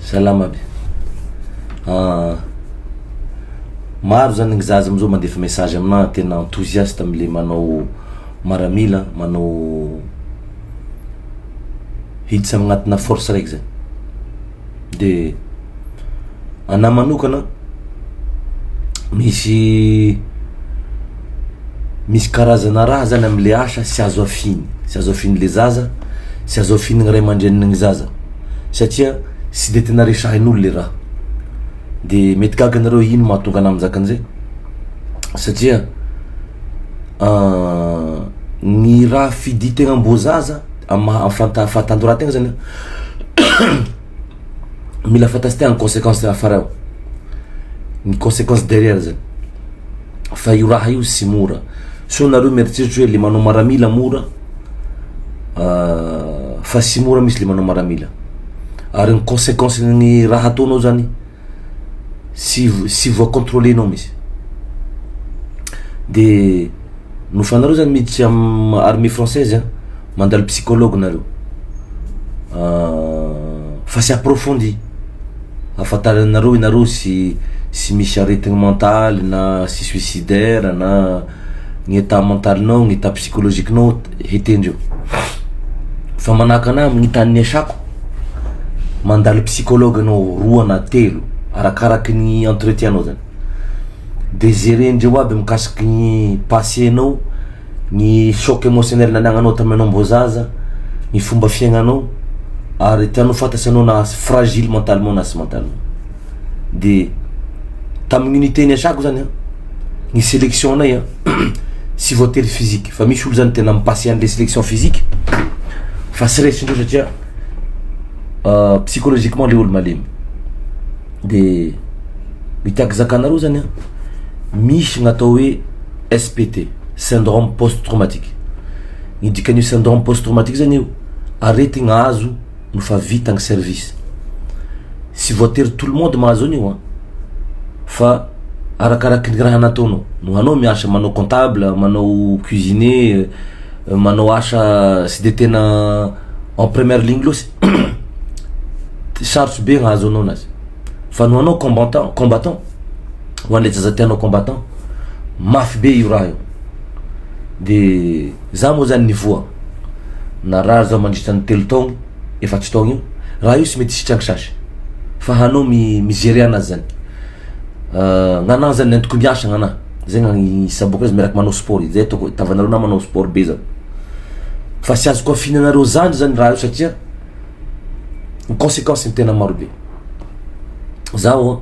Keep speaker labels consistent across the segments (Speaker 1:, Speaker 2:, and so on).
Speaker 1: Salama aby. Ah, maro zany ny zaza amzao mandefa message amina tena enthousiaste amle manao maramila, manao hiditra agnatina force raiky zay. De ana manokana misy misy karazana raha zany amle asa tsy azo afiny, tsy azo afinle zaza, tsy azo afinle ray aman-dreninle zaza. satria tsy dia tena resahin'olo le raha. Dia mety gaga nareo hoe ino mahatonga anah mizaka an'izay? satria ny raha fidian-tegna amboazaza amin'ny maha fanta- fahatanjoran-tegna zany mila fantatsintena ny consequence afara ao, ny consequence derrière zany. fa io raha io tsy mora so nareo mieritreritra hoe le manao maramila mora ah, fa tsy mora misy le manao maramila ary ny consequence ny raha ataonao zany tsy tsy voa contrôler nao misy de no fanareo zany miditra am armée française a mandalo psychologue nareo ah, fa tsy approfondi ahafantaranareo ianareo tsy tsy misy aretina mentaly na tsy suicidaire na ny état mentalinao ny état psychologiquenao hetendreo fa manahaka anahy amin'ny tany niasako mandalo psychologue anao roa na telo arakaraky ny entretien-nao zany de jerendreo aby mikasiky ny passer-nao ny choc emotionnel nanagnanao tamin'ny anao mbô zaza, ny fomba fiaignanao ary tianao fantatry anao na fragile mentalement na tsy mentalement de tamin'ny unité niasako zany a ny selection anay a tsy voatery physique fa misy olo zany tena mi-passer an'le selection physique fa tsy resindreo satria psychologiquement le olo malemy de ny tiako zakanareo zany a misy ny atao hoe SPT, Syndrome Post Traumatique. Ny dikan'io Syndrome Post Traumatique zany eo, aretigna azo no fa vita ny service. Tsy voatery tout le monde mahazo an'io an! Fa arakaraky ny raha nataonao. No anao miasa manao comptable, manao cuisinier, manao asa tsy de tena en première ligne loatra, sarotsy be hahazo anao anazy. Fa no anao combattant, combattant, ho an'le zaza tianao combattant mafy be io raha io de za moa zany nivoha narary zaho mandritra ny telo taogno efatry taogno io raha io sy mety hisitrany sasy fa hanao mi mi-gerer anazy zany gn'agnahy zany ny antoko miasa gn'agnahy zay gnagny saboka azy miaraky manao sport izy zay ataoko itavanareo nama manao sport be zany fa sy azoko afinanareo zandry zany raha io satria ny consequence ny tena maro be zaho.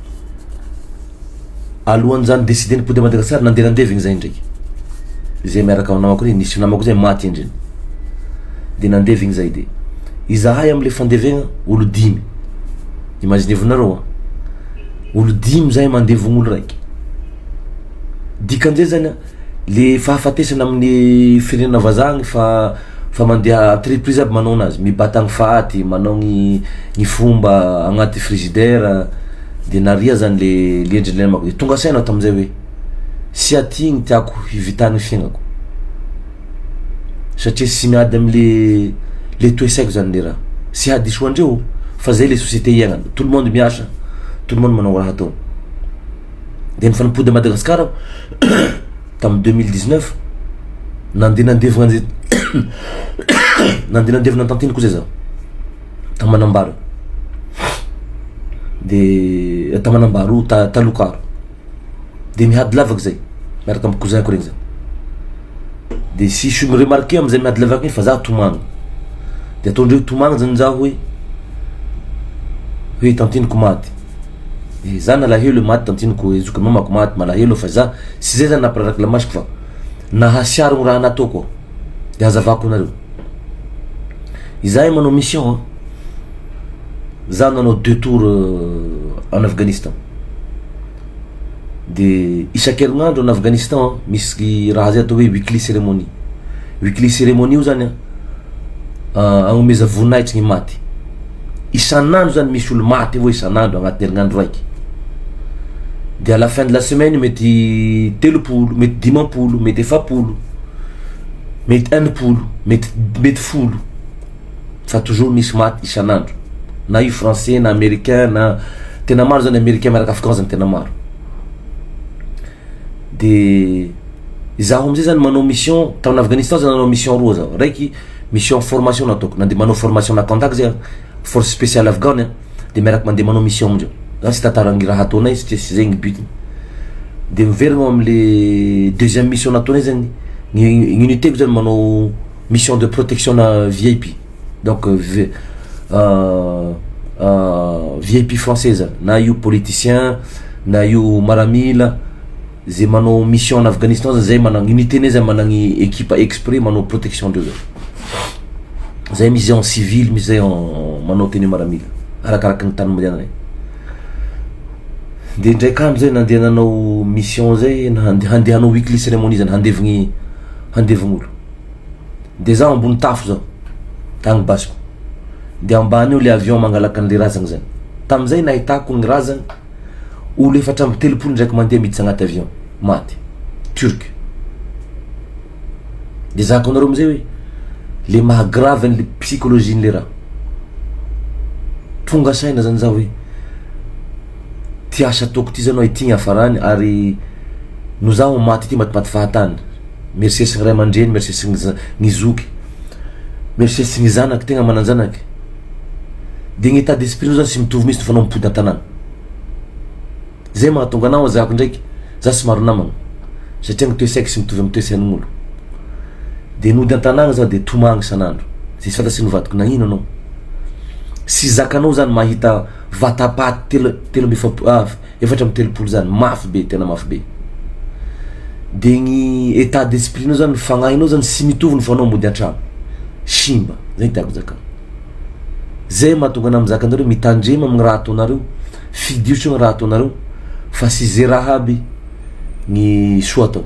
Speaker 1: Alohan'izany décidé nipody à Madagascar nandeha nandeha ve zay ndreky zay miaraka aminy namako reny nisy namako zay maty ndreny de nandeha ve zay de izahay amle fandevegna olo dimy imaginevo nareo an olo dimy zahay mandevogno olo raiky dikan'izay zany an. Le fahafatesana amin'ny firenena vazaha agny fa fa mandeha atreprise aby manao anazy mibata ny faty manao ny ny fomba agnaty frizidera de naria zany le le endriny le namako de tonga saina aho tamin'izay hoe sy aty ny tiako hivitan'ny fiaignako satria sy miady amle le toe saiko zany le raha sy hadiso andreo fa zay le sosiete hiaignana tout le monde miasa tout le monde manao raha ataony de nifanipody a Madagasikara aho tamin'ny deux mille dix neuf, nandeha nandevina an'izay nandeha nandevina ny tantely koa zay zaho tao Manambaro, de tao Manambaro ta- Talokaro, de mihady lavaka zay miaraka amin'ny cousin-ko regny zay, de sisy olo ni-remarquer am'zay mihady lavaka igny fa za tomagny, de ataondreo tomagny zany za hoe hoe tanteniko maty. Za nalahelo e maty tantiniko e zokin'i mamako maty malahelo fa za tsy zay zany nampirarako ilay masoko fa nahasiaro ny raha nataoko aho de hazavako anareo izahay manao mission an za nanao deux tour en Afghanistan de isan-kerinandro en Afghanistan an misy raha zay atao hoe weekly ceremony weekly ceremony io zany an hanomeza voninahitry ny maty isan'andro zany misy olo maty avao isan'andro agnatin'ny herignandro raiky, de à la fin de la semaine mety telopolo, mety dimampolo, mety efapolo, mety enimpolo, mety mety folo, fa toujours misy maty isan'andro, na io français na americain na tena maro zany americain miaraka afghan zany tena maro. dia izaho amin'izay zany manao mission tamin'ny Afghanistan zany nanao mission roa zaho, raiky mission formation no ataoko, nandeha manao formation nakandak zay aho, force speciale afghane an, dia miaraka mandeha manao mission amindreo, za tsy tantara ny raha ataonay satria tsy zay ny but-ny, dia miverina ao amin'ilay deuxième mission nataonay zany, ny unité-ko zany manao mission de protection-na VIP. Donc vi vip française na io politicien na io maramila ze manao mission en Afghanistan zany zay managny unité nay zany managny ekipa exprès manao protection andreo zany zay misy zay en civil misy zay en manao tenue maramila arakaraky ny tany mandehananay de indraiky andro zay nandeha nanao mission zay hande- handeha hanao weekly ceremony zany handevigny handevigny olo. de zaho ambony tafo zao agny basiko de ambany eo le avion mangalaka anle razagna zany, tamizay nahitako ny razagna olo efatra amby telopolo ndraiky mandeha miditra agnaty avion maty turque, de zaka anareo amizay oe le maha grave anle psychologie anle raha, tonga saina zany zaho oe ty asa ataoko ty zany oe ty ny hafarany ary no zaho maty ty matimaty fahatany. Merci sy ny ray aman-dreny merci sy ny zoky merci sy ny zanaka tegna manan-janaka de ny etat d'esprit nao zany tsy mitovy mintsy nofanao mipody an-tanàna zay mahatonga anah zako ndraiky za somary namagna satria ny toe-saiko tsy mitovy amin'ny toe-sain'olo de nody an-tanàna za de tomagny isan'andro zay tsy fantatry ny vadiko nagnino anao sy zakanao zany mahita vata-paty telo amby efapolo Efatra amby telopolo zany mafy be tena mafy be de ny etat d'esprit nao zany ny fagnahinao zany sy mitovy ny fanao mody antragno simba zay tiako zakana zay mahatonga anah mizaka anareo mitandrema aminy raha ataonareo fidio tsony raha ataonareo fa sy ze raha aby ny soa atao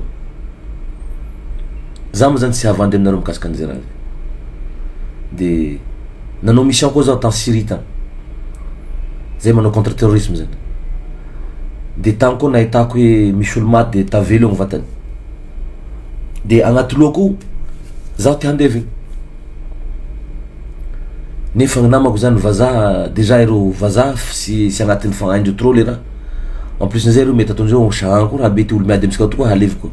Speaker 1: za mo zany tsy havandry aminareo mikasika anze raha zay. de nanao mission koa zaho tany Syrie tany, zay manao contre terrorisme zany, de tany koa nahitako hoe misy olo maty de tavela eo ny vatany, de agnaty lohako ao zaho te handeha avy eo, nefa ny namako zany vazaha, dejà ireo vazaha sy sy agnatin'ny fa- haindreo trop le raha, en plus n'izay reo mety ataondreo hoe Jean koa raha be ty olo miady amintsika tokoa halevy koa.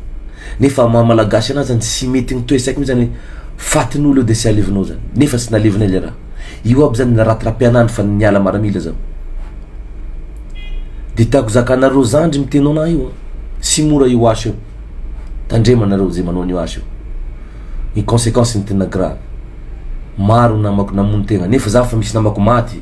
Speaker 1: Nefa maha malagasy anah zany tsy mety ny toe saiko mintsy zany hoe fatin olo eo de tsy alevinao zany nefa tsy nalevinay le raha io aby zany raha trapianandro fa niala maramila zaho de tiako zakanareo zandry miteno anah io an tsy mora io asa io tandremo anareo ze manao an'io asa io ny consequence ny tena grave maro ny namako namono tegna nefa zaho efa misy namako maty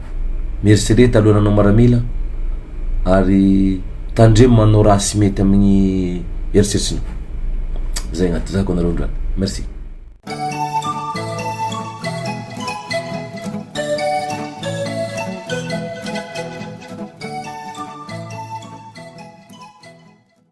Speaker 1: Mieritrereta alohan'ny hanao maramila ary tandremo manao raha sy mety amin'ny eritreritrina. Zay agnaty tezahako anareo androany. Merci.